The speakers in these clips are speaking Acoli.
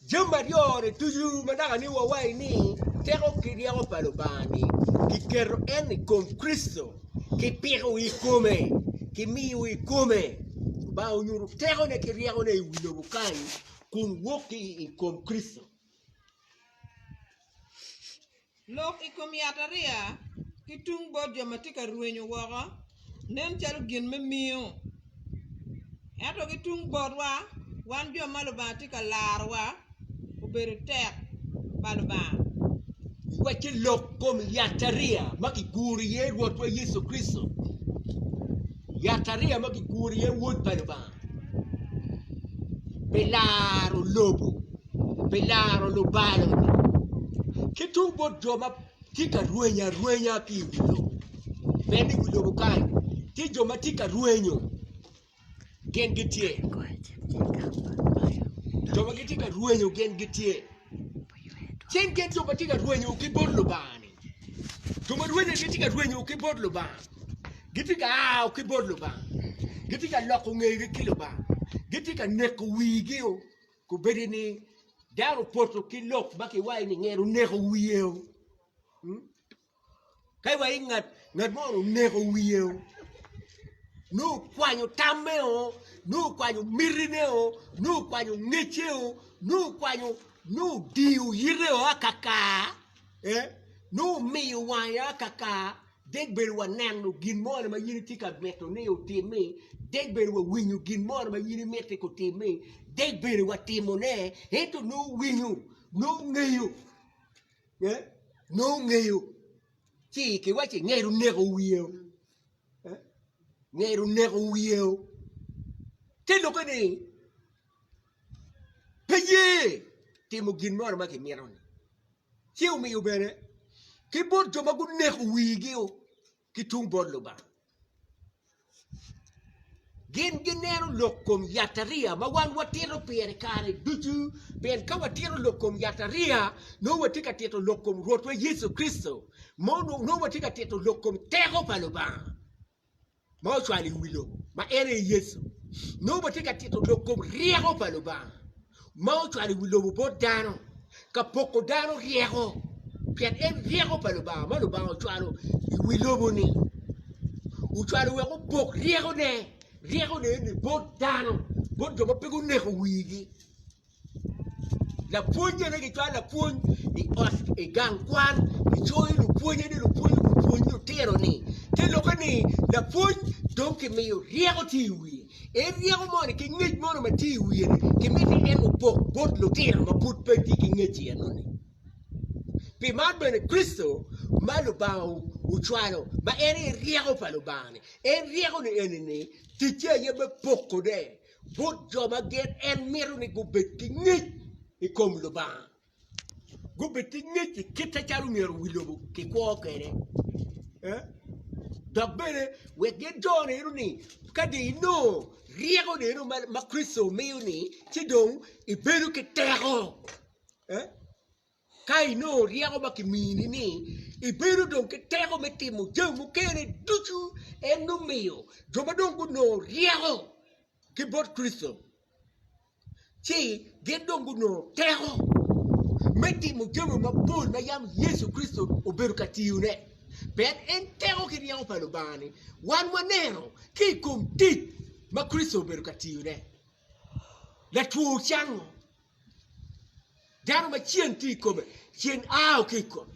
Jami aryo-ni ducu ma dok anongo wawaci ni teko ki ryeko pa Lubanga-ni kiketo en i kom Kricito, kipiko i kome, kimiyo i kome. Lubanga onyuto tekone ki ryekone i wi lobo kany kun wok ki i kom Kricito. Lok i kom yatariya ki tung bot jo ma tye ka rwenyo woko nen calo gin me miyo. Ento ki tung botwa, wan jo ma Lubanga tye ka larowa, obedo tek pa Lubanga. Wacce lok kom yatariya ma kiguro iye Rwotwa Yecu Kricito. Yatariya ma kiguro iye Wod pa Lubanga. pi laro lobo, pi laro lubalo ki tung bot jo ma tye ka rwenyo arwenya ki i wi lobo pien ni i wi lobo kany tye jo ma tye ka rwenyo gin gitye jo ma gitye ka rwenyo gin gitye cen gin jo ma tye ka rwenyo ki bot Lubanga-ni. Jo ma rwenyo gitye ka rwenyo ki bot Lubanga, gitye ka ao ki bot Lubanga, gitye ka loko ngegi ki Lubanga, gitye ka neko wigi o, kobedi ni dano opoto ki lok ma kiwaci ni nge-ni oneko wiye o, mm? ka iwaci ngat ngat mo ni oneko wiye o, nongo okwanyo tamme o, nongo okwanyo mitine o, nongo okwanyo ngecce o, nongo okwanyo nongo odingo yite o akaka, nongo omiyo wanga kakar dek bed waneno gin mo ma in itye ka miti ni otimmi dek bed wawinyo gin mo ma in imiti gutimmi dek bed watimone ento nongo owinyo nongo ongeyo nongo ongeyo ci kiwaci ngero oneko wiyeo ngero oneko wiyeo te lokke ni pe ye timo gin mo ma kimito ni ci omiyo bene ki bot jo ma guneko wigi o ki tung bot Lubanga gin gineno lok kom yatariya ma wan watito pire kare ducu pien ka watito lok kom yatariya nongo watye ka tito lok kom Rwotwa Yecu Kricito nongo watye ka tito lok kom teko pa Lubanga. ma ocwalo i wi lobo, ma en aye Yecu, nongo watye ka tito lok kom ryeko pa Lubanga ma ocwalo i wi lobo bot dano, ka poko dano ryeko, pien en ryeko pa Lubanga ma Lubanga ocwalo i wi lobo-ni. Ocwalo wek opok ryekone, ryekone eni bot dano, bot jo ma pe guneko wigi. Lapwony bene gicwalo lapwony i ot i gang kwan gicoyo lupwonye ni lupwony opwony lutino ni te lokke ni lapwony dong kimiyo ryeko tye i wiye en ryeko moni ki ngec moni ma tye i wiye ni kimiti en opok bot lutino ma pud pe tye ki ngec i eno ni pi man bene Kricito ma Lubanga ocwalo ma en aye ryeko pa Lubanga ni en ryeko ni eni ni ticce aye me poko ne bot jo ma gin en mito ni gubed ki ngec i kom Lubanga, gubed ki ngec i kite calo myero wi lobo kikwo kwede, dok bene wek gin jo neno ni ka dong inongo ryeko neno ma Kricito omiyo-ni ci dong ibedo ki teko. Ka inongo ryeko ma kimini-ni, ibedo dong ki teko me timo jami mukene ducu. En dong miyo jo ma dong gunongo ryeko ki bot Kricito ci gin dong gunongo teko me timo jami mapol ma yam Yecu Kricito obedo ka tiyone. Pien en teko ki ryeko pa Lubanga-ni wan waneno ki i kom tic ma Kricito obedo ka tiyone. Latwo ocango. Dano ma ceng tye i kome, ceng ao ki i kome.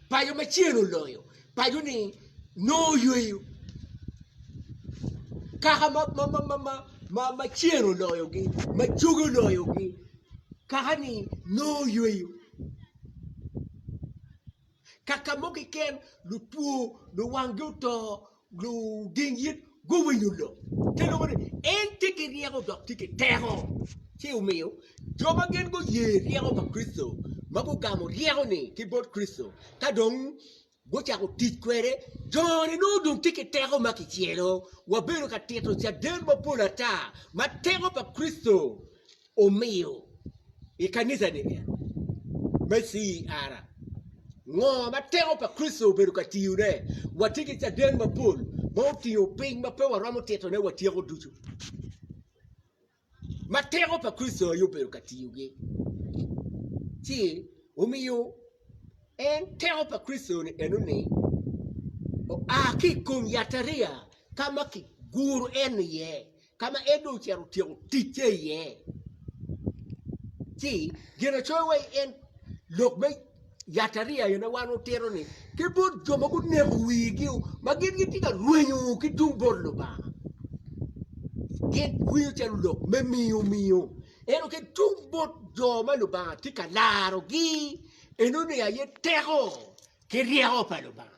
Paco ma ceng oloyo, paco-ni nongo oyweyo. Kaka ma ceng oloyogi, ma coge oloyogi, kaka-ni nongo oyweyo. Kaka mo keken, lutwo, luwanggi oto, luding it guwinyo lok. Te loko ni, En tye ki ryeko dok tye ki teko. Ci omiyo, jo ma gin guye ryeko pa Kricito, ma gugamo ryeko-ni ki bot Kricito, ka dong gucako tic kwede, jo-ni nongo dong tye ki teko ma kicelo. Wabedo ka tito caden mapol ata ma teko pa Kricito omiyo i kanicani me CER, ngo ma teko pa Kricito obedo ka tiyone? Watye ki caden mapol ma otingo piny ma pe waromo titone wa tyeko ducu, ma teko pa Kricito aye obedo ka tiyogi, ci omiyo en teko pa Kricito-ni enoni oa ki i kom yatariya ka ma kiguro en iye. ka ma en dong ocito otyeko ticce iye, ci gin acoya wa i en lok me yatariya aye ma wan watito ni ki bot jo ma guneko wigi o ma gin gitye ka rwenyo ki tung bot Lubanga gin winyo calo lok me miyo miyo ento ki tung bot jo ma Lubanga tye ka larogi enoni aye teko ki ryeko pa Lubanga.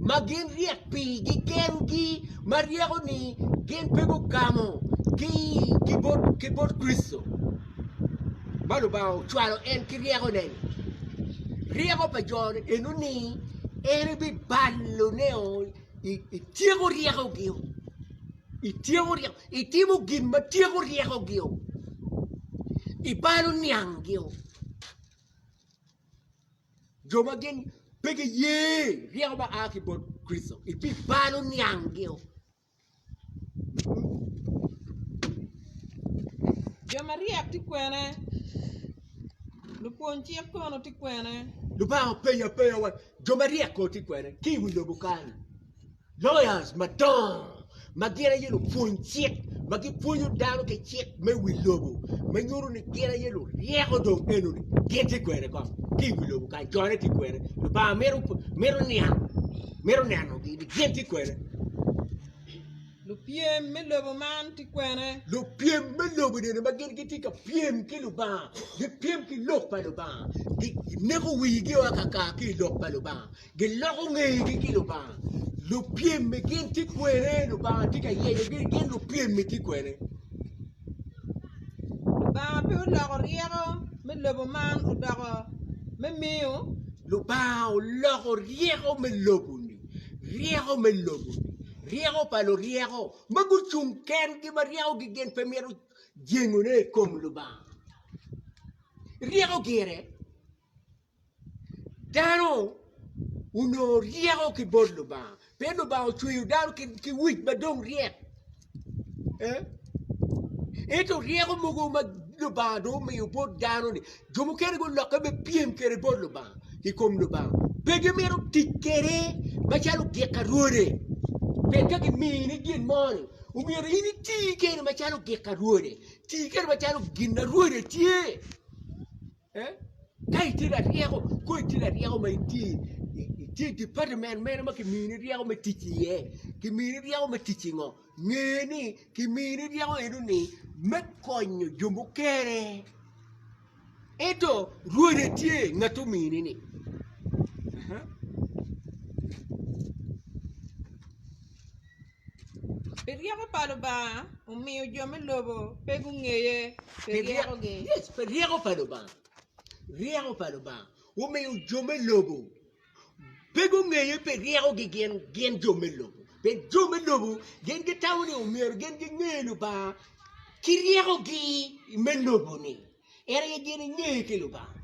ma gin ryek pigi kengi ma ryeko ni gin pe gugamo ki bot Kricito ma Lubanga ocwalo en ki ryeko-ne-ni. Ryeko pa jo-ni eno ni en ebibalo ne o ityeko ryekogi-o, ityeko ryeko itimo gin ma tyeko ryekogi-o, ibalo niangi-o. Jo ma gin pe giye ryeko ma a ki bot Kricito ebibalo niangio. Jo maryek tye kwene? Lupwony cik kono tye kwene? Lubanga openyo apenga wa, Jo maryek kono tye kwene ki i wi lobo kany-ni? Lawyers madongo ma gin aye lupwony cik ma gipwonyo dano ki cik me wi lobo ma nyuto ni gin aye luryeko dong enoni gin tye kwene kong ki i wi lobo kany jone tye kwene Lubanga mito mito niang mito nenogi ni gin tye kwene. Lupyem me lobo man tye kwene. Lupyem me lobo enini ma gin gitye ka pyem ki Lubanga gipyem ki lok pa Lubanga gi gineko wigi o akaka ki i lok pa Lubanga Giloko ngegi ki Lubanga. Lupyemmi gin tye kwene? Lubanga tye ka yeyogi, gin lupyemmi tye kwene? Lubanga pe oloko ryeko me lobo man odoko me miyo? Lubanga oloko ryeko me lobo-ni, ryeko me lobo-ni, ryeko pa luryeko ma gucung kengi ma ryekogi gin pe mito jengone i kom Lubanga. Ryeko gire. Dano onongo ryeko ki bot Lubanga pien Lubanga ocweyo dano ki wic ma dong ryek ento ryeko mogo ma Lubanga dong omiyo bot dano-ni jo mukene gulokke me pyem kwede bot Lubanga i kom Lubanga pe gimito tic kwede macalo ogik ka rwode pien ka kimini gin moni omyero in iti kwede macalo ogik ka rwode, iti kwede macalo gin ma rwode tye. Ka itye laryeko, kong itye laryeko ma itye i department mene ma kimini ryeko me tic iye, kimini ryeko me tic i ngo? nge ni kimini ryeko eno ni me konyo jo mukene ento rwode tye ngat omini ni. Pi ryeko pa Lubanga omiyo jo me lobo pe gungeye pi ryekogi. Yes, pi ryeko pa Lubanga. Ryeko pa Lubanga omiyo jo me lobo pe gungeye pi ryekogi gin gin jo me lobo. Pi jo me lobo gin gitamo ni omyero gin ginge Lubanga ki ryekogi me lobo-ni. En aye gin ingeye ki Lubanga.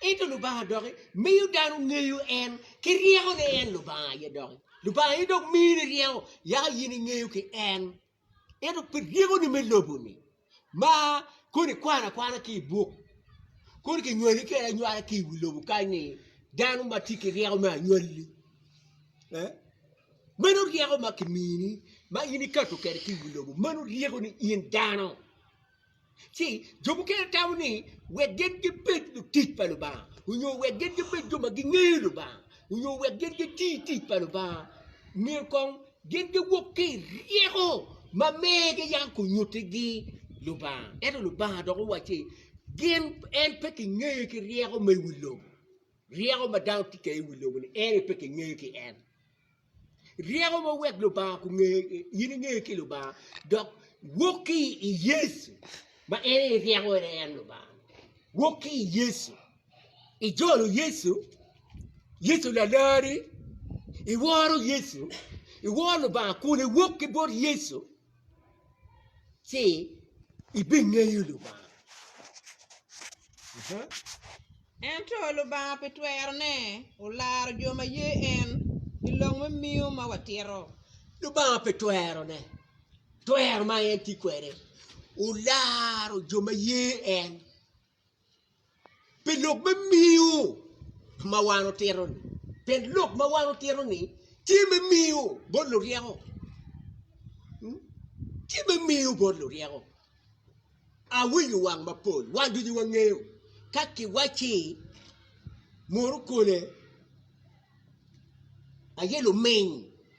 Ento Lubanga doki miyo dano ngeyo en ki ryeko ni en Lubanga aye doki. Lubanga aye dok mini ryeko yaka in ingeyo ki en. Ento pi ryekoni me lobo-ni ma koni kwano akwana ki i buk, koni kinywali kede anywala ki i wi lobo kany ni dano ma tye ki ryeko me anywali. Meno ryeko ma kimini ma in ikato kede ki i wi lobo, meno ryekoni in dano. ci jo mukene tamo ni wek gin gibed lutic pa Lubanga onyo wek gin gibed jo ma gingeyo Lubanga onyo wek gin giti tic pa Lubanga myero kong gin giwog ki i ryeko ma megi yam onyuttigi Lubanga. Ento Lubanga dok owacci gin en pe kingeye ki ryeko ma i wi lobo, ryeko ma dano tye kwede i wi lobo-ni en aye pe kingeye ki en. Ryeko mo wek Lubanga kunge, in inge ki Lubanga, dok wok ki i Yecu ma en aye ryeko, en aye en Lubanga. Wok ki i Yecu, ijolo Yecu, Yecu lalari, iworo Yecu, iworo Lubanga kun iwok ki bot Yecu. ci ibingeyo Lubanga. Ento Lubanga pi twerone olaro jo ma ye en i lok me miyo ma watito. Lubanga pi twerone, twero ma en tye kwede, olaro jo ma ye en Pi lok me miyo ma wan otito ni pien lok ma wan otito ni tye me miyo bot luryeko tye me miyo bot luryeko awinyo wang mapol wan ducu wangeyo ka kiwacci munu kole aye luminy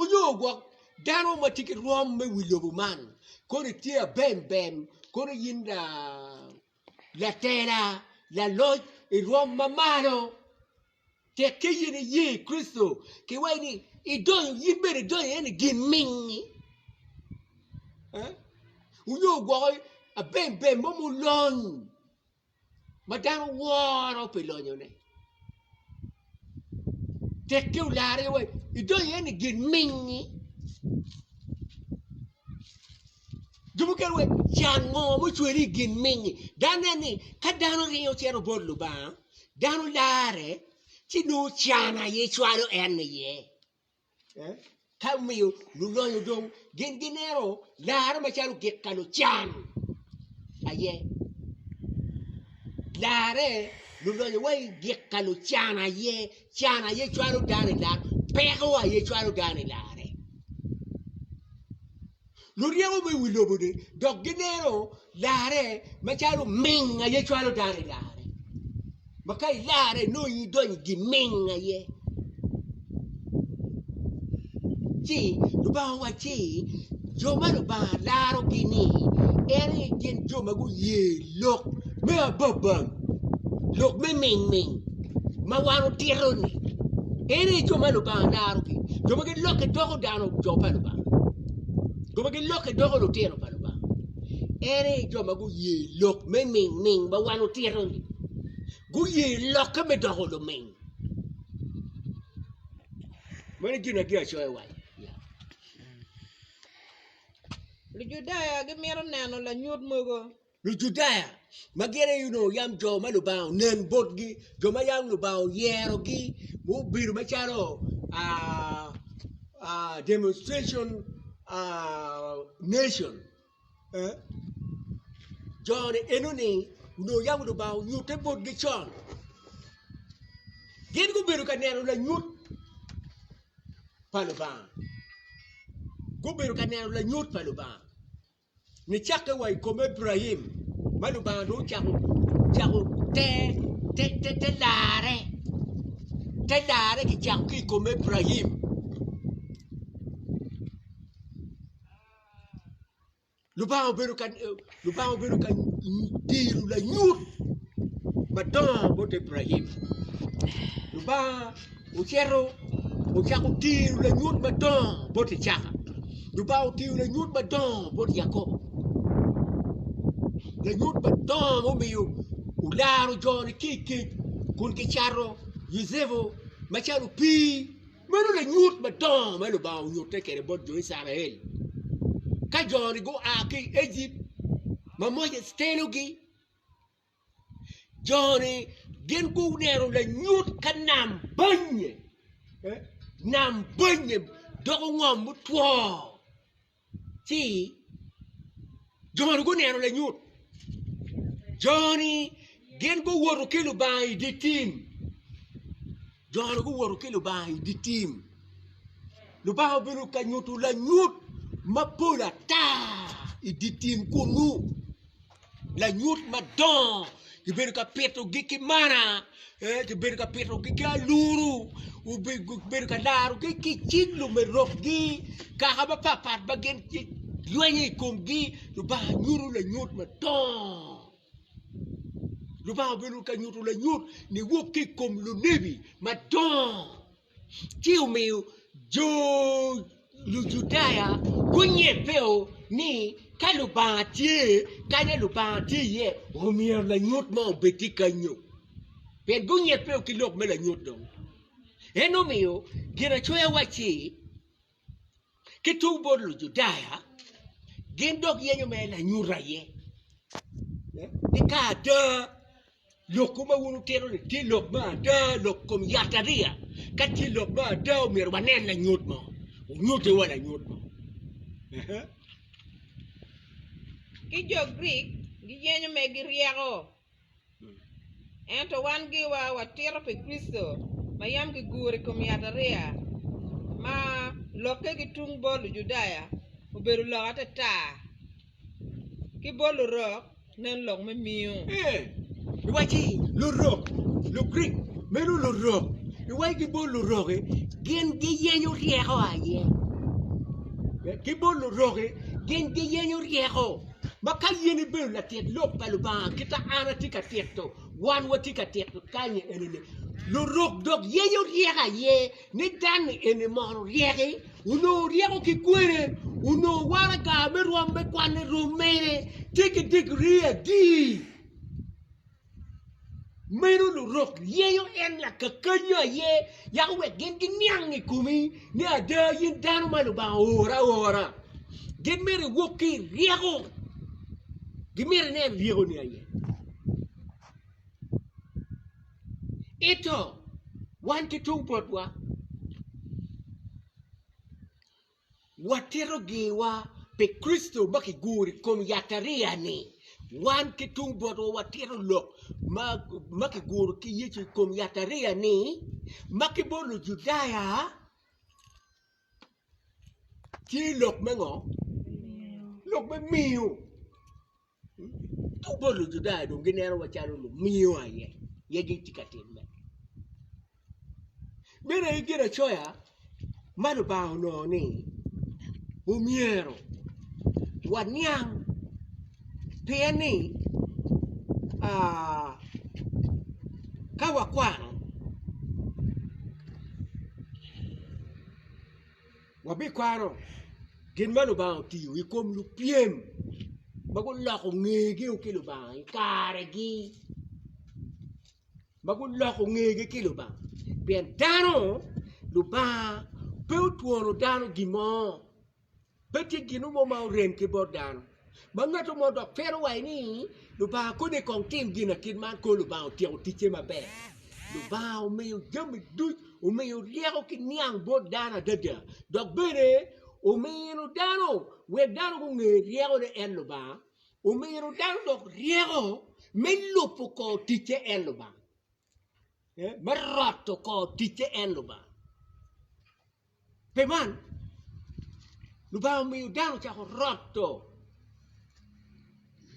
Onyo gwok dano ma tye ki rwom me wi lobo man kono itye abem bem kono in latela, laloc irwom ma malo tek ki in iye i Kricito ki wai ni idonyo in bene idonyo iye ni gin mingi onyo gwoko abem bem mo ma olony. ma dano woro pi lonyone, tekke olarre wa idonyo iye ni gin mingngi, jo mukene waci can ngo ma ocweli i gin mingngi dok inen ni ka dano ringo cito bot Lubanga dano larre ci nongo can aye cwalo en iye. Ka omiyo lulonyo dong gin gineno larre macalo gik ka lucan aye, larre lulonyo wa i gik ka lucan aye, can aye cwalo dano i larre, peko aye cwalo dano i larre. luryeko me wi lobo-ni dok gineno larre macalo oming aye cwalo dano i larre, ma ka ilarre inongo in idonyo i giming aye. Ci Lubanga owacci, Jo ma Lubanga larogi-ni en aye gin jo ma guye. Lok me ababal, lok me mingming ma wan otito-ni, en aye jo ma Lubanga darogi, jo ma gilokke doko dano jo pa Lubanga, jo ma gilokke doko lutino pa Lubanga. En aye jo ma guye lok me mingming ma wan otito-ni, guye lokke me doko luming. Meno gin ma Ginacoya waco. Lujudaya gimito neno lanyut mogo. Lujudaya ma gin aye onongo yam jo ma Lubanga onen botgi, jo ma yam Lubanga oyerogi, gubedo macalo demonstration nation. Jo-ni enoni onongo yam Lubanga onyutte botgi con, gin gubedo ka neno lanyut. pa Lubanga gubedo ka neno lanyut pa Lubanga nicakke wa i kom Ebraim ma Lubanga dong ocako cako te te te te larre te larre kicako ki i kom Ebraim Lubanga obedo ka diro lanyut madongo bot Ebrahim. Lubanga ocito ocako diro lanyut madongo bot Icaka. Lubanga odiro lanyut madongo bot Yakobo, lanyut madongo mumiyo olaro jone ki i kec kun kicato Yucepu macalo opii. Meno lanyut madongo ma Lubanga onyutte kwede bot jo Icrael ka jo-ni gua ki i Ejipt ma Moses telogi. Jo-ni gin guneno lanyut ka nam bannye, nam bannye doko ngom mutwo. ci jo-ni guneno lanyut, jo-ni gin guwoto ki Lubanga i dye tim, jo-ni guwoto ki Lubanga i dye tim, Lubanga obedo ka nyuto lanyut mapol ata i dye tim kunu. lanyut madongo kibedo ka pitogi ki mana kibedo ka pitogi ki aluru kibedo ka larogi ki cing lumerobgi kaka mapat pat ma gin gilwenyo i komgi Lubanga nyuto lanyut madongo Lubanga obedo ka nyuto lanyut niwuok ki i kom lunebi madongo. ci omiyo jo Lujudaya gunyibbeo ni ka Lubanga tye, kanya Lubanga tye iye, omyero lanyut mo obed ki kanyo. Pien gunyibbeo ki lok me lanyut dong. En omiyo Ginacoya wacci. Ki tung bot Lujudaya, gin dok yenyo mere lanyut aye ni ka ada lokwu ma wun wutito-ni tye lok me ada, lok i kom yatariya, ka tye lok me ada myero wanen lanyut mo, wunyutiwa lanyut mo. Ki jo Grik, giyenyo mere giryeko Ento wan giwa watito pi Kricito ma yam kiguro i kom yatariya, ma lokke ki tung bot Lujudaya obedo lok atata, ki bot Lurok nen lok me miyo. Ee, iwacci, Lurok, Lugrik, meno Lurok, iwacci ki bot Lurok-ki, gin giyenyo ryeko aye, ki bot Lurok-ki, gin giyenyo ryeko. Ma ka yen ibedo latit lok pa Lubanga kit ma an atye ka tito, wan watye ka tito kanyi enini, Lurok dok yenyo ryeko aye, ni dan-ni eni mono oryeki, onongo ryeko ki kwene, onongo waraga me rwom me kwanne rom mene tye ki digri adi? Meno lurok yeyo en lakakanyi aye yako wek gin giniang i komi ni ada in dano ma Lubanga ooro aora. Gin myero iwok ki i ryeko, gimyero inen ryekoni aye. Ento wan ki tung botwa. Watito giwa pi Kricito ma kiguro i kom yatariya-ni. Wan ki tung botwa watito lok ma kiguro ki Yecu i kom yatariya-ni, ma ki bot Lujudaya tye lok me ngo? Lok me miyo. Tung bot Lujudaya dong ginenowa calo lumiyo aye, aye gitye ka timme. Meno aye Ginacoya ma Lubanga onongo ni omyero waniang pien ni ka wakwano Wabikwano gin ma Lubanga otiyo i kom lupyem ma guloko ngegi ki Lubanga i karegi ma guloko ngegi ki Lubanga pien dano Lubanga pe otwonu dano gin mo pe tye gin mo ma orem ki bot dano. Ba ngato mo dok twero waco ni, Lubanga koni kong tim gina kit man kong Lubanga otyeko ticce maber. Lubanga omiyo jami duc omiyo ryeko ki niang bot dano adada dok bene omino dano wek dano gunge ryekone en Lubanga, omino dano dok ryeko me lubo kor ticce en Lubanga, me roto kor ticce en Lubanga. Pi man, Lubanga omiyo dano ocako roto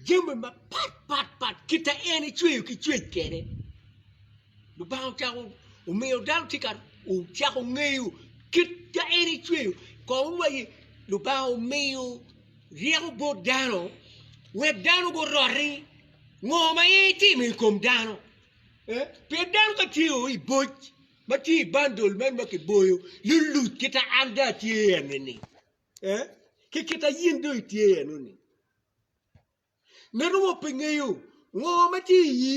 jami mapatpat kit ma en ecweyo ki cwec kwede. Lubanga ocako omiyo dano ocako ngeyo kit ma en ecweyo kong wa i Lubanga omiyo ryeko bot dano wek dano guroti ngo ma en etimo i kom dano pien dano ka tye i boc. ma tye i bandol man ma kiboyo luluc kita an dong atye i eni-ni ee ki kita in dong itye i eno-ni. Ngat mo pe ngeyo ngo ma tye i iyi,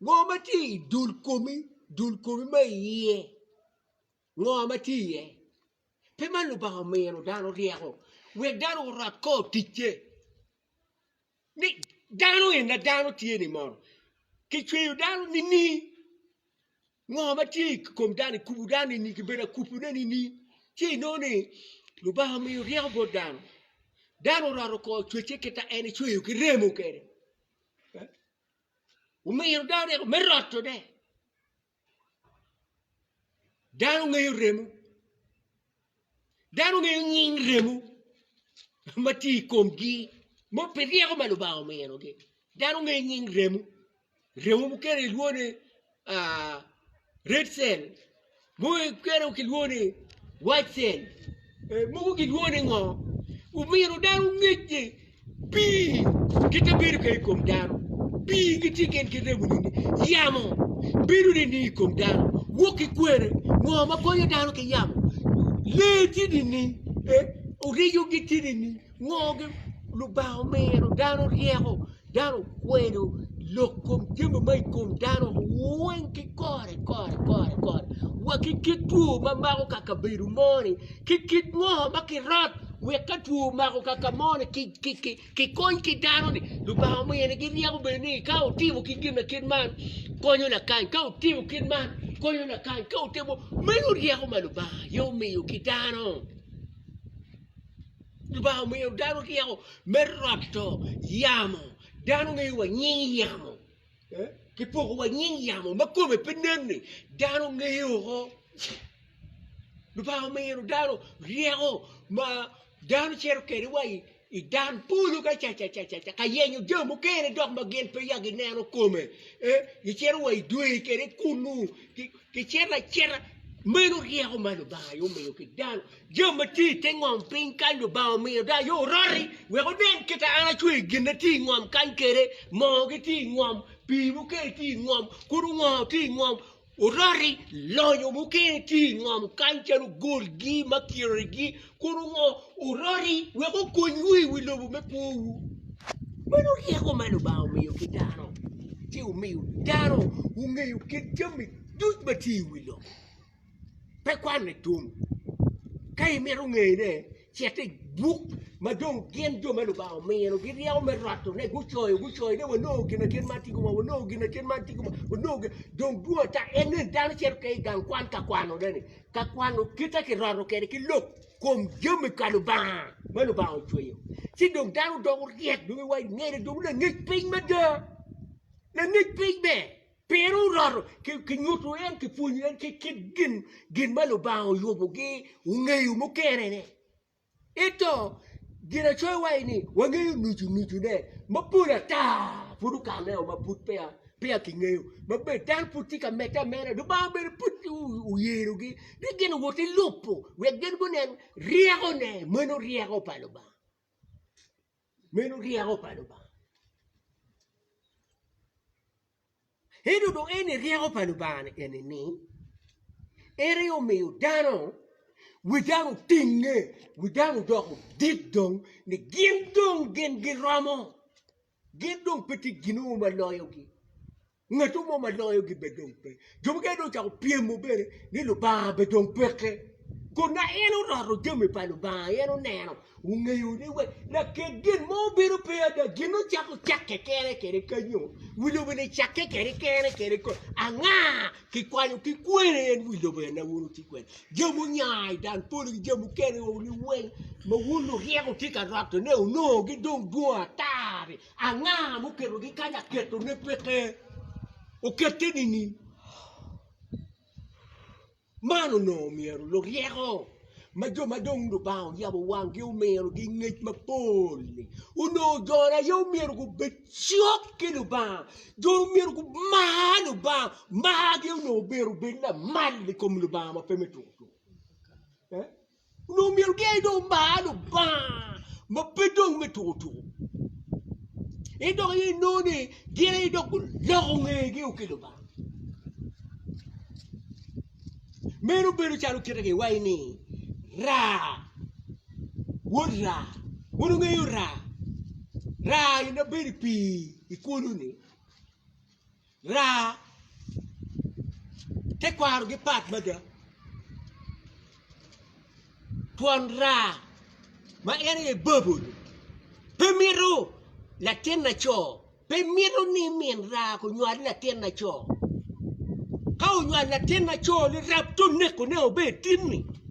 ngo ma tye i dul komi, dul komi ma iye ngo ma tye iye. Pe man Lubanga omino dano ryeko wek dano orwat kor ticce. Ni dano en na dano tye ni mono kicweyo dano nining? Ngo ma tye i kom dano ikubo dano nining kibedo akubone nining? Ci inongo ni Lubanga omiyo ryeko bot dano, dano oroto oko cwecce kita en ecweyo ki remo kede, eh? omiyo dano ryeko me rotone Dano ngeyo remo, dano ngeyo nying remo ma tye i komgi ma obedo pi ryeko ma Lubanga ominogi dano ngeyo nying remo, remo mukene kilwongo ni red cell mukene kilwongo ni white cell mogo kilwongo ni ngo omino dano ngec ni Pii kite bedo kene i kom dano, pii gitye kene ki remo nyo ni yamo bedo nining i kom dano? Wok ki kwene, ngo ma konyo dano ki yamo? Lee tye nining? Oriyo gitye nining? Ngo gin? Lubanga omino dano ryeko, dano okwelo lok kom jami ma i kom dano weng ki kore kore kore kore wa ki kit two ma mako ka kabedo mo-ni. Ki kit ngo ma ki rot wek ka two omako kaka mo ni ki kony ki dano ni lubanga omiyo ni gi ryeko bedo ni ka otimo ki gin na kit man konyo lakany ka otimo kit man konyo lakany ka otimo meno ryeko ma lubanga aye omiyo ki dano lubanga omiyo dano ryeko me roto yamo dano ngeyo wa nying yamo Kipoko wa nying yamo ma kome pe nen-ni, dano ngeye woko. Lubanga omino dano ryeko ma dano cito kwede wa i dan polo kacacacaca ka yenyo jami mukene dok ma gin peya gineno kome, gicito wa i dwe kwede kunnu. Kicito acita, meno ryeko ma Lubanga aye omiyo ki dano. Jami ma tye i te ngom piny kany Lubanga omiyo dano aye oroti wek onen kit ma en acweyo gin ma tye i ngom kany kwede. Moogi tye i ngom, pii mukene tye i ngom, kudu ngor tye i ngom, oroti, lonyo mukene tye i ngom kany calo golgi, makirorigi. kun ongo oroti wek okonywu i wi lobo me kwowu. Meno ryeko ma Lubanga omiyo ki dano, ci omiyo dano ongeyo kit jami duc ma tye i wi lobo. Pe kwanne tum, ka imito ngeyone, cit i buk ma dong gin jo ma Lubanga omino gi ryeko me rotone gucoyo gucoyo ni wanongo gin kit man tika, wanongo gin kit man tika, dong dwong ata en ni dano cito keken i gang kwan ka kwanone-ni. ka kwano kite ki roto kwede ki lok kom jami pa Lubanga ma Lubanga ocweyo ci dong dano doko ryek dong i wang ngene dong langec piny mada langec piny ber pien oroto ki nyuto en ki pwonyo en ki kit gin ma Lubanga oyubogi ongeyo mukene-ni. Ento, Ginacoya waco ni wangeyo nucu nucune, mapol ata pud okammeo ma pud peya kingeyo. Ma bed dano pud tye ka medde ameda, Lubanga bene pud oyerogi ni gin owot ki lobo wek gin gunen ryekone, meno ryeko pa Lubanga. Meno ryeko pa Lubanga. Ento dong en ni ryeko pa Lubanga ni eni ni en aye omiyo dano wi dano otinge wi dano doko dit dong ni gin dong gin giromo gin dong pe tye gin ma loyogi. Ngatu mo ma loyo gi bed dong pe. Jo mukene dong ocako pyemo bene ni Lubanga bed dong peke. Kun ma en oroto jami pa Lubanga en oneno, ongeyo ni we lakek gin mo bedo pe ada, gin ocako cake kene kede kanyo, wi lobo ni cake kede kene kede kong. Anga ki kwanyo ki kwene en wi lobo ena wun wuti kwede? Jami onya i dan polo ki jami mukene weng ma wun luryeko wutye ka roto ne onongo gi dong dwong ata-ri Anga muketogi kany aketone peke? Okette nining? Man onongo myero luryeko ma jo ma dong Lubanga oyabo wanggi omirogi ngec mapol-li onongo jone aye omyero gubed cok ki Lubanga, jone omyero gumar Lubanga. Margi onongo myero obed lamal i kom Lubanga ma pe me tuk tuk. Onongo myero gin dong omar Lubanga ma pe dong me tuko tuko. En dok aye inongo ni gin aye dok guloko ngegi ki Lubanga. Meno bedo calo kite kiwaci ni raa, wod raa, wun wungeyo raa, raa ni ma bedo i pii i kulu ni. Raa tekwaro gipat mada, twon raa ma en aye Babul pe mito latin laco, pe mito ni min raa onywal latin laco. Ka onywal latin laco-ni rab te onekone obed tin-ni.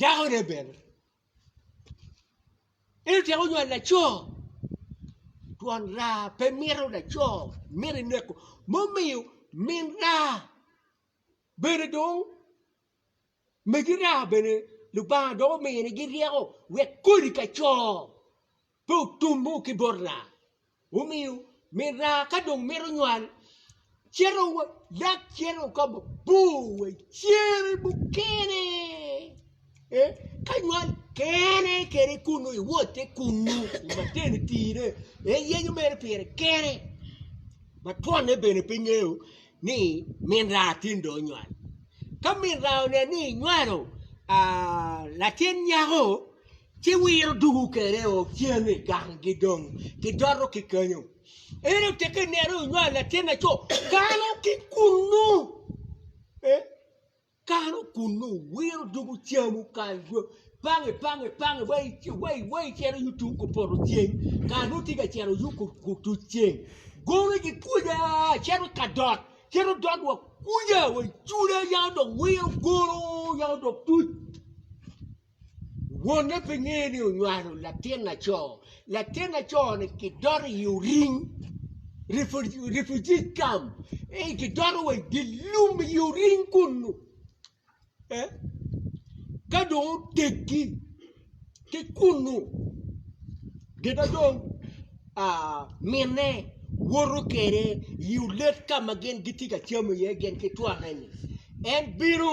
dakone bene, en otyeko nywalo laco twon raa pe mito laco mito ineko mumiyo min raa bene dong megi raa bene Lubanga dong omini gi ryeko wek kodi ka co. Pe otumu ki bot raa, omiyo min raa ka dong mito nywal, cito wa lak cito wa ka mabor wa i cere mukene, ee, ka nywal kene kene kunnu iwotte kunnu i matenitine, iyenyo mere pire kene, ma twonne bene pe ingeyo ni min raa tin dong onywal. Ka min raa oneno ni inywalo aa latin nyako. ci wiro dugu kede o cen i ganggi dong kidoto ki kenyo. Ento teke ineno inywal latin laco kano ki kunnu, eh, kano kunnu, wiro dugu camu kal dwe, pange pange pange wa ic- wa i- wa icito yung tung kupoto ceng kara nongo tye ka cito yung ku- kutuc ceng gone gikwica cito i kadot cito dot wa kwica wa icuda yaka dong wiro gono yaka dong tuc. Wonne pe ngeye ni onywalo latin laco. Latin laco-ni kidoto i oring, refugee camp, ee, kidoto wa i dye lum i oring kunnu. Ee, ka dong oteggi ki kunnu, gin ma dong minne woto kwede i olet ka ma gin gitye ka camo iye gin ki twone-ni, en bino.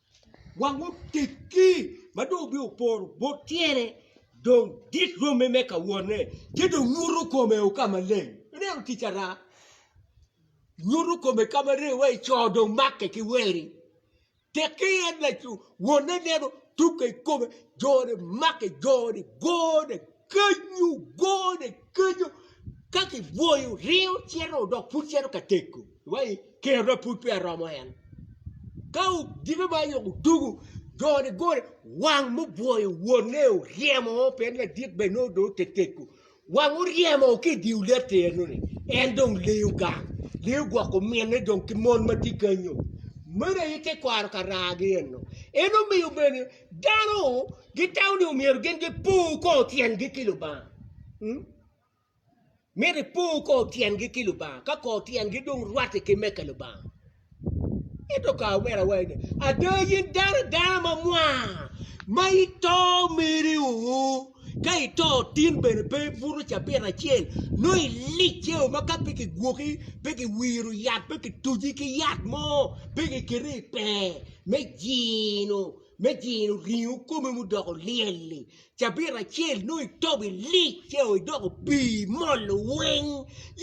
Wang oteggi ma dong obino oporo bot tyene dong dit romme me ka wotne, ci dong nyuto kome o ka maleng. Ineno tic ara? Nyuto kome ka maleng wai co dong makke ki weri. Tekki en laco wonne neno tukke i kome jone makke joni gone Kenyo gone kenyo ka kibwoyo ringo cito dok pud cito ka tego wa i kerwa pud peya romo en ka odiko ma ayoko odugo joni gone wang mubwoyo wonne oryemo o pe ladit bene nongo dong ote tego wang oryemo o ki i diu lette enoni en dong leyo gang leyo gwoko minne dong ki mon ma tye kenyo meno aye tekwaro karagi eno en omiyo bene Dano gitamo ni omyero gin gipor kor tyengi ki Lubanga. Myero ipor kor tyengi ki Lubanga ka kor tyengi dong rwatte ki meke Lubanga. Ento ka awera wai ni ada yin dano dano ma mwaa ma ito meri uu. Ka ito, tin bene pe ibuto cabit acel, nongo ilic ceo ma ka pe kigwoki, pe kiwiro yat, pe kituci ki yat mo, pe kiketi i pee me jino, me jino ringo komi mudoko lyel-li. Cabit acel nongo itobo ilic ceo, idoko pii imolo weng.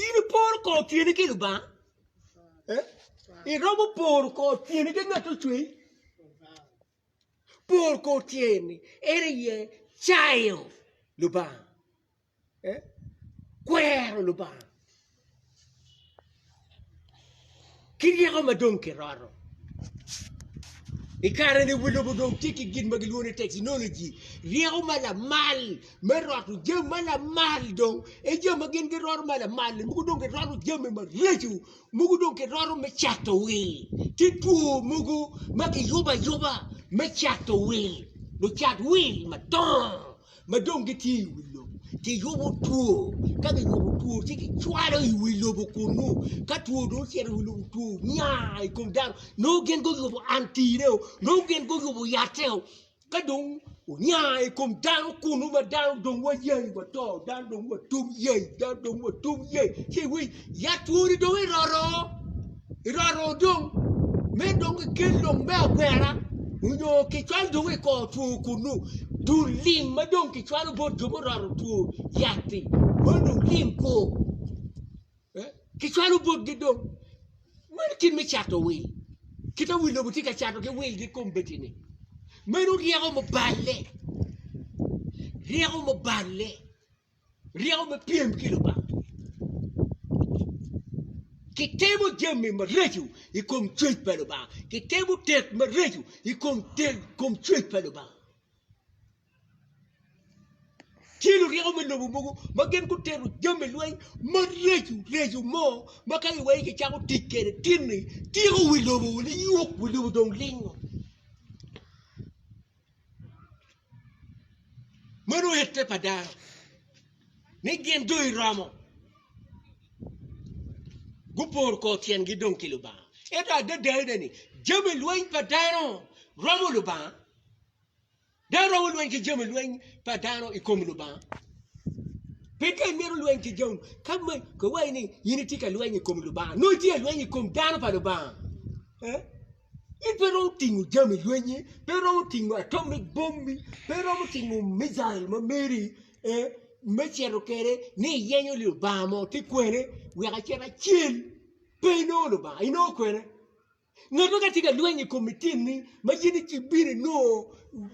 In iporo kor tyeni ki Lubanga? Iromo poro kor tyeni ki ngat ocwei? Pol kor tye ni en aye cayo Lubanga, kwero Lubanga ki ryeko ma dong kiroto. I kare ni wa lobo dong tye ki gin ma gilwongo ni teknoloji, ryeko ma lamal me roto jami ma lamal dong, en jami ma gin giroto ma lamal-li mogo dong giroto jami maraco. mogo dong kiroto me cato wil, tye two mogo ma kiyubo ayuba me cato wil, lucat wil madongo ma dong gitye i wi lobo kiyubo two, ka kiyubo two ci kicwalo i wi lobo kunnu, ka two dong ocito i wi lobo two nya i kom dano nongo gin guyubo anti-reo, nongo gin guyubo yatte-o. Ka dong onya i kom dano kunu ma dano dong wayai wato, dano dong watum yai, dano dong watum yai, ci iwiny ya twoni dong eroto, eroto dong me dong kikel dong me agwera onyo kicwalo dong i kor two kunu, dul lim ma dong kicwalo bot jo muroto two yat-ti, meno dong lim kwo. Kicwalo botgi dong. Meno kit me cato wil. Kit ma wi lobo tye ka cato ki wilgi i kom Betini, meno ryeko muballe, ryeko muballe, ryeko me pyem ki Lubanga. Kitimo jami maraco i kom cwec pa Lubanga, kitimo tet maraco i kom cwec pa Lubanga. Tye luryeko me lobo mogo ma gin gutito jami lweny maraco raco mo ma ka iwei kicako tic kwede tinni tyeko wi lobo wun iyub wi lobo dong lingo meno ite pa dano ni gin dong iromo guporo kor tyengi dong ki Lubanga ento adadane ni jami lweny pa dano romo Lubanga. Dano romo lweny ki jami lweny pa dano i kom Lubanga. Pe dano mito lweny ki jami ka kiwaci ni in itye ka lweny i kom Lubanga nongo itye ka lweny i kom dano pa Lubanga. In pe iromo tingo jami lwenyi, pe iromo tingo atomic bombi, pe iromo tingo mijail ma meri me cito kwede ni iyenyo Lubanga mo tye kwene wek acit acel. Pe inongo Lubanga inongo kwene. Ngat ma ka tye ka lweny i kom itinni ma in ibino inongo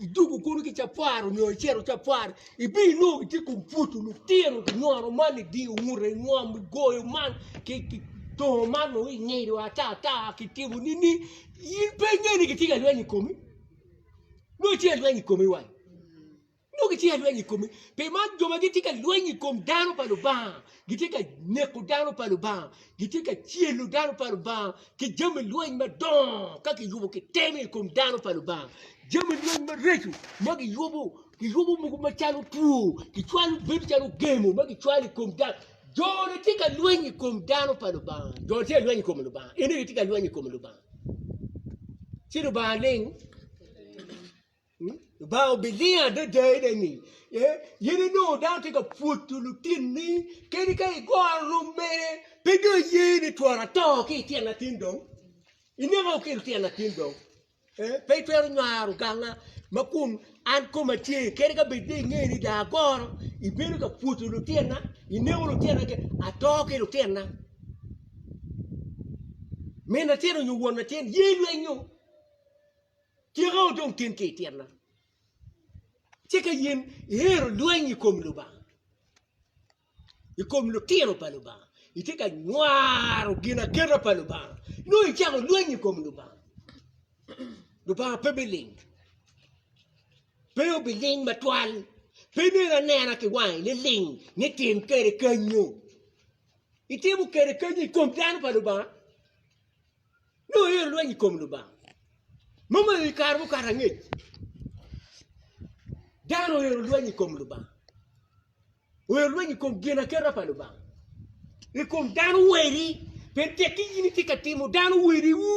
idwogo kunu ki capar nyo icito capar ibino inongo gitye kong pwodo lutino kinyono man idiyo ngute ingom igoyo man kitongo man nongo ingido ata ata kitimo nini in pe ingene gitye ka lweny i komi nongo ice ilweny i komi wai. Nongo gitye ka lweny i kome, pi man jo ma gitye ka lweny i kom dano pa Lubanga gitye ka neko dano pa Lubanga, gitye ka celo dano pa Lubanga ki jami lweny madongo ka kiyubo kitemo i kom dano pa Lubanga. Jami lweny mareco ma kiyubo, kiyubo mogo macalo two, kicwalo bedo calo gemo ma kicwalo i kom dano. Jone tye ka lweny i kom dano pa Lubanga, jone tye ka lweny i kom Lubanga, ene aye tye ka lweny i kom Lubanga. Ci Lubanga ling Lubanga obiling adada i neni pien in inongo dano tye ka pwodo lutinni kadi ka igoro rwom mere pe dong iye ni twara ato ki i tyen atin dong ineko ki i tyen atin dong pe itwero nywaro ganga ma kun an koma tye kadi ka bed ni inge ni dong agoro ibedo ka pwodo lutinna ineko lutinna kene ato ki lutinna min latin nyo won latin ye ilwenyo Tika odong tin ki i tyenna? Ci ka in ihero lweny i kom Lubanga, i kom lutino pa Lubanga, itye ka nywaro ginakena pa Lubanga, nongo icako lweny i kom Lubanga. Lubanga pe biling, pe obiling matwal, pe nen anena ki wangi niling ni tim kwede kenyo. Itimo kwede kenyo i kom dano pa Lubanga. Nongo iyero lweny i kom Lubanga. Mom aye i kare mukato angec dano oyero lweny i kom Lubanga, oyero lweny i kom ginaketa pa Lubanga, i kom dano weri, pien tekki in itye ka timo dano weriwu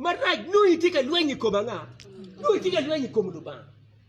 marac, nongo itye ka lweny i kom anga? Nongo itye ka lweny i kom Lubanga.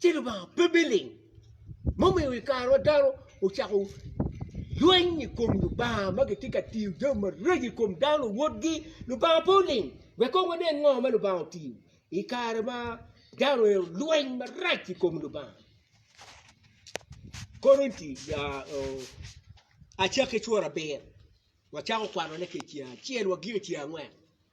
ci Lubanga pe biling mumiyo i kare ma dano ocako lweny i kom Lubanga ma gitye ka tiyo jami maraco i kom dano luwotgi Lubanga pe oling wek kong wanen ngo ma Lubanga otiyo i kare ma dano aye olweny marac i kom Lubanga Korinti acakki cura abiro wacako kwanone ki i ceng acel wa gik i ceng angwen.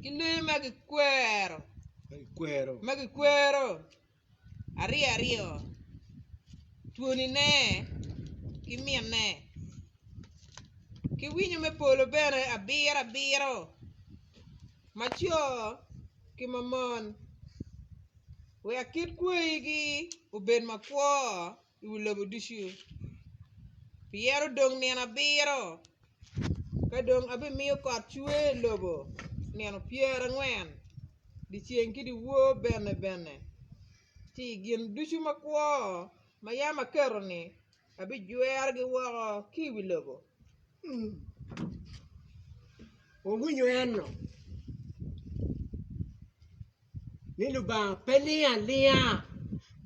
ki lee ma kikwero aryo aryo twonine ki minne ki winyo me polo bene abiro abiro ma co ki ma mon wek kit kwayigi obed makwor. i wi lobo ducu, piyero dong nino abiro ka dong abimiyo kot cwer i lobo nino pyerangwen, dyeceng ki dyewor bene bene ci i gin ducu makwo ma yam aketo-ni abijwerogi woko ki i wi lobo. ni Lubanga pe lingo alinga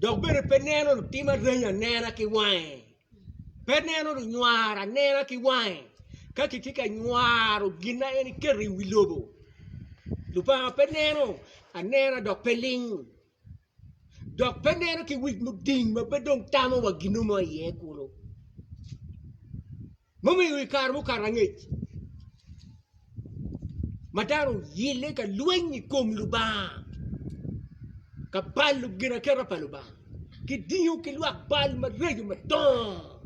dok bene pe neno lutim areny anena ki wange, pe neno lunywaro anena ki wange. Ka kitye ka nywaro gin ma en eketo i wi lobo, Lubanga pe neno anena dok pe ling dok pe neno ki wic muding ma pe dong tamo wa gin mo ma iye kulu. Mumiyo i kare mukato angec ma dano oyelle ka lweny i kom Lubanga, ka balo ginaketa pa Lubanga, ki dingo ki lwak bal maraco madongo,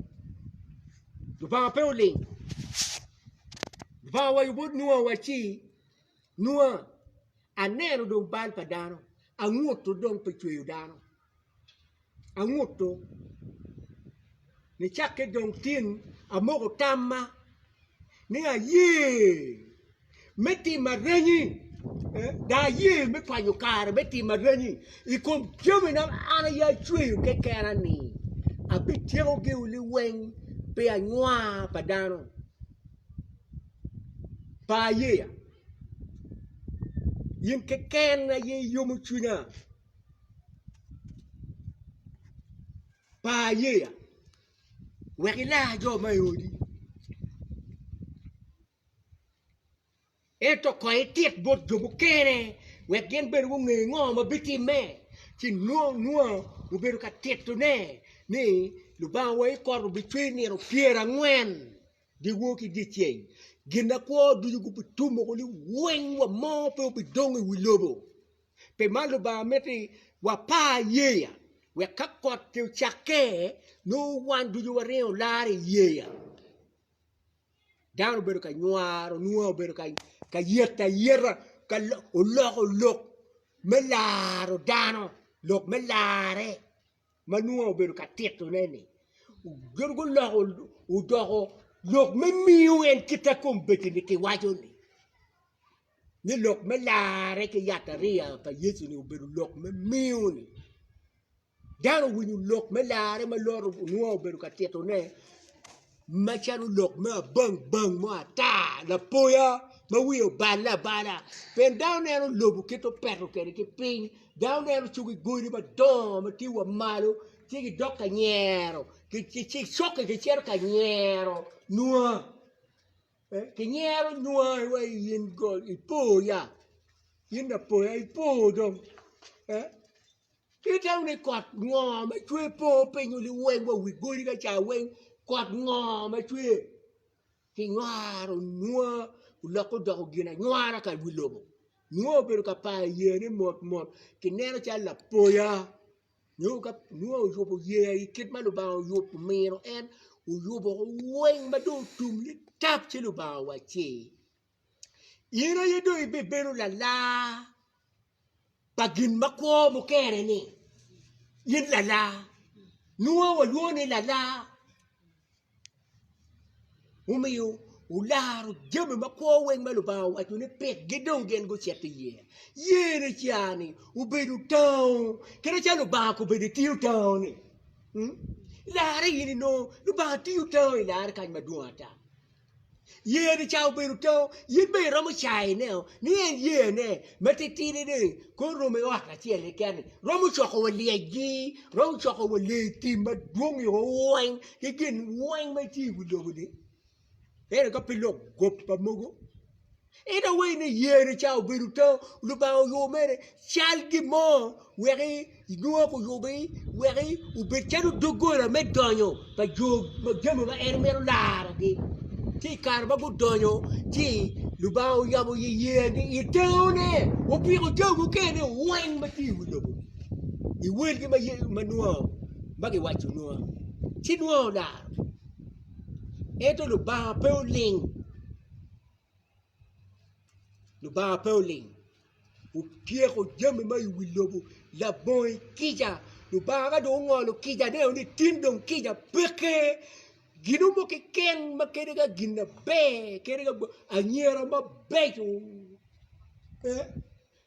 Lubanga pe oling. Lubanga owaco bot Nua wacci, Nua, aneno dong bal pa dano, anguto dong pi cweyo dano. anguto nicakke dong tin amoko tamma ni aye me timo aranyi dok aye me kwanyo kare me timo aranyi i kom jami ma an aye acweyo kekena ni abityeko giu liweng pi anywa pa dano par yeya in keken aye iyomo cwinya. Par yeya wek ilar jo ma i odi ento kong itit bot jo mukene wek gin bene gunge ngo ma bitimme ci nongo nua obedo ka titone ni Lubanga wa i kore obicwer nino pyerangwen dyewor ki dyeceng ginakwo ducu gubitum woko ni weng wa mo pe obidong i wi lobo. Pi man Lubanga mito ni wapar yeya wek ka kot-ti ocakke nongo wan ducu waringo olar i yeya. Dano obedo ka nywaro, Nua obedo ka yeto ayeta, oloko lok me laro dano, lok me larre. ma nongo obedo ka titone ni gin guloko odoko lok me miyo en kit ma kombeddi-ni kiwaco-ni ni lok me larre ki yatariya pa Yecu-ni obedo lok me miyo-ni dano owinyo lok me larre ma Lota nongo obedo ka titone macalo lok me abang bang mo ata lapoya ma wiye obale abala pien dano neno lobo kit ma opeto kwede ki piny dano neno cogi godi madongo ma tye wa malo ci gidok ka nyero coki gicito ka nyero nwa kinyero nwa wa i in ipo ya in lapoya ipo dong. Kite wunu ni kot ngo ma cwer po pinyo liweng wa wi godi ka ca weng kot ngo ma cwer ki nywaro nwa oloko odoko gin anywara ka wi lobo nwa obedo ka payo yeya ne mot mot ki neno calo lapoya nyo ka nwa oyubo yeya i kit ma lubanga oyubo miro en oyubo weng ma dong otum nitap ci lubanga wa ci In aye dong ibibedo lalar pa gin ma kwo mukene-ni, in lalar, nongo walwongo ni lalar, mumiyo wularo jami ma kwo weng ma Lubanga owaco ni pikgi dong gin gucito iye, yeni ca-ni obedo tango kadi calo Lubanga kobedo itiyo tango-ni, larre in inongo Lubanga tiyo tango ilarre kany madwong ata. Yeyane ca obedo to, in bene iromo cayo ine ni en yeyane ma titidi ni kong oromo i ot acel keken-ni romo coko wa lyecgi, romo coko wa lee tim madwong i owa weng ki gin weng ma tye i wi lobo-ni ento ka pe lok goba mogo. In awayi ni yeni ca obedo tau, Lubanga oyubo mere cal gin mo wek inwak oyube wek obed calo doggola me donyo pa jo ma jami ma en mito larogi, ci i kare ma gudonyo ci Lubanga oyabo i iye ni i taune opiko jami mukene weng ma tye i wi lobo i welgi ma ma nwono ma giwaco nwono ci nwono olaro ento Lubanga pe oling. Lubanga pe oling otyeko jami ma i wi lobo labongi kica Lubanga ka dong ongolo kica ne ni tin dong kica peke gino mo keken ma kadi ka gin na ber kadi ka anyira mabeco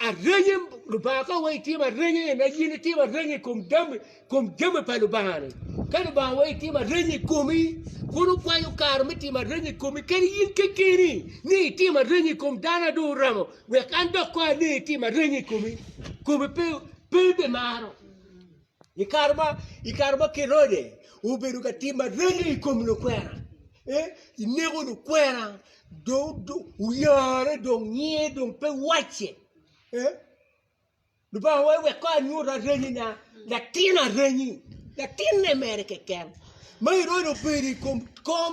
Arenye, Lubanga ka wai itimo arenye en aye ni timo arenye i kom dam kom jami pa Lubanga ni. Ka Lubanga wai itimo arenye i komi, pud okwanyo kare me timo arenye i komi kadi in kekeni ni itimo arenye i kom dano a dong oramo wek an dok kong aneni itimo arenye i komi. Komi pe pe bimaro. I kare ma i kare ma Kerode obedo ka timo areny i kom lukwena, eneko lukwena dong oyare dong nyinge dong pe wacce. Lubanga wa wek kong anyut areny na latin areny latinne mere keken ma Herode obedo i kom kom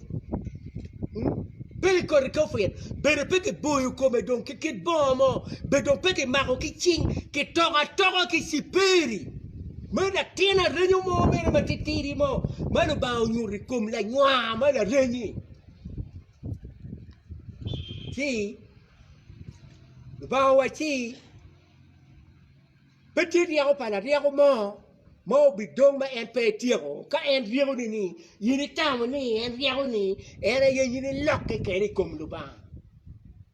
Bedo ki koti kofir, bedo pe ki boyo kome dong ki kit bongo mo, bedo dong pe ki mako ki cing, ki toko atoka ki ciperi me latin arenyo mo mere ma titidi mo ma Lubanga onyuto i kom lanywa ma larenyi. Ci Lubanga owacci. Pe tye ryeko pa laryeko mo ma obidong ma en pe etyeko. Ka en ryeko ni ni, in itamo ni en ryeko ni, en aye in ilokke kene i kom Lubanga.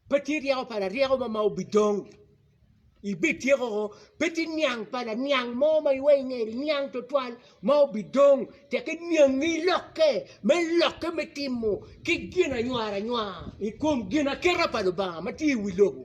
Pe tye ryeko pa laryeko mo ma obidong. Ibityeko ko, pe tye niang pa laniang mo ma iwai inge niang twatwal ma obidong tek iniangi ilokke me lokke me timo ki ginaywara nywar i kom ginaketa pa Lubanga ma tye i wi lobo.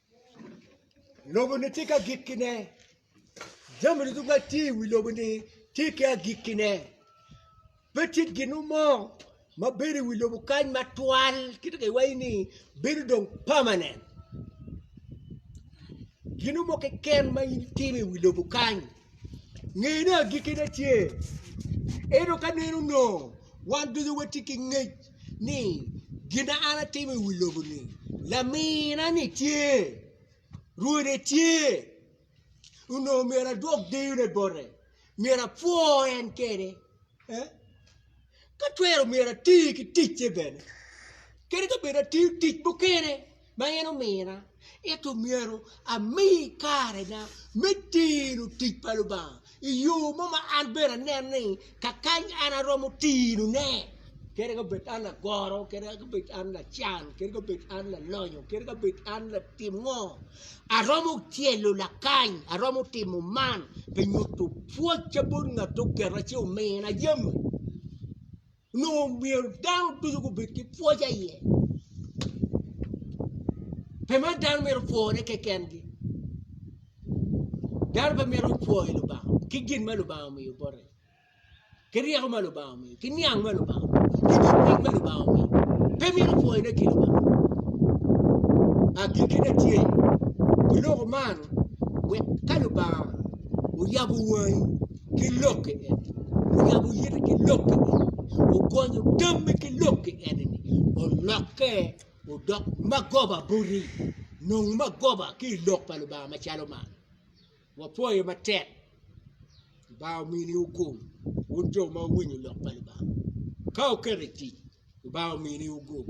Lobo-ni tye ki agikkine, jami ducu ma tye i wi lobo-ni tye ki agikkine pe tye gin mo ma bedo i wi lobo kany matwal kit ma kiwaco ni bedo dong pamanen gin mo keken ma in itimo i wi lobo kany nge ni agikkine tye ento ka neno nongo wan ducu watye ki ngec. ni gin ma an atimo i wi lobo-ni laminani tye, Rwode tye onongo myero adwok deyone bote myero apwo en kene ka twero myero ati ki ticce bene kadi ka bed atiyo tic mukene. ma en omina, ento myero ami karena me tino tic pa Lubanga i yo mo ma an bene aneno ni kakany an aromo tino ne kadi ka bed an agoro kadi ka bed an lacan kadi ka bed an lalonyo kadi ka bed an latim ngo aromo tyelo lakany aromo timo man pi nyuto pwoc ca bot ngat oketa ci omina jami. Onongo myero dano ducu gubed ki pwoc aye, pe mere dano myero opwore kekengi, dano pe myero opwo i Lubanga ki gin ma Lubanga omiyo bote, ki ryeko ma Lubanga omiyo, ki niang ma Lubanga omiyo, ki dong piny ma Lubanga omiyo, pe myero opwonyone ki Lubanga. Agikkine tye, biloko man wek ka Lubanga oyabo wangi, ki lok ki en oyabo yite ki lok ki en ogonyo tammi ki lok ki en olokke odok magoba boti nong magoba ki i lok pa Lubanga macalo man wapwoye matek Lubanga omini wu gung wun jo ma wuwinyo lok pa Lubanga ka wuketo i tic Lubanga omini wu gung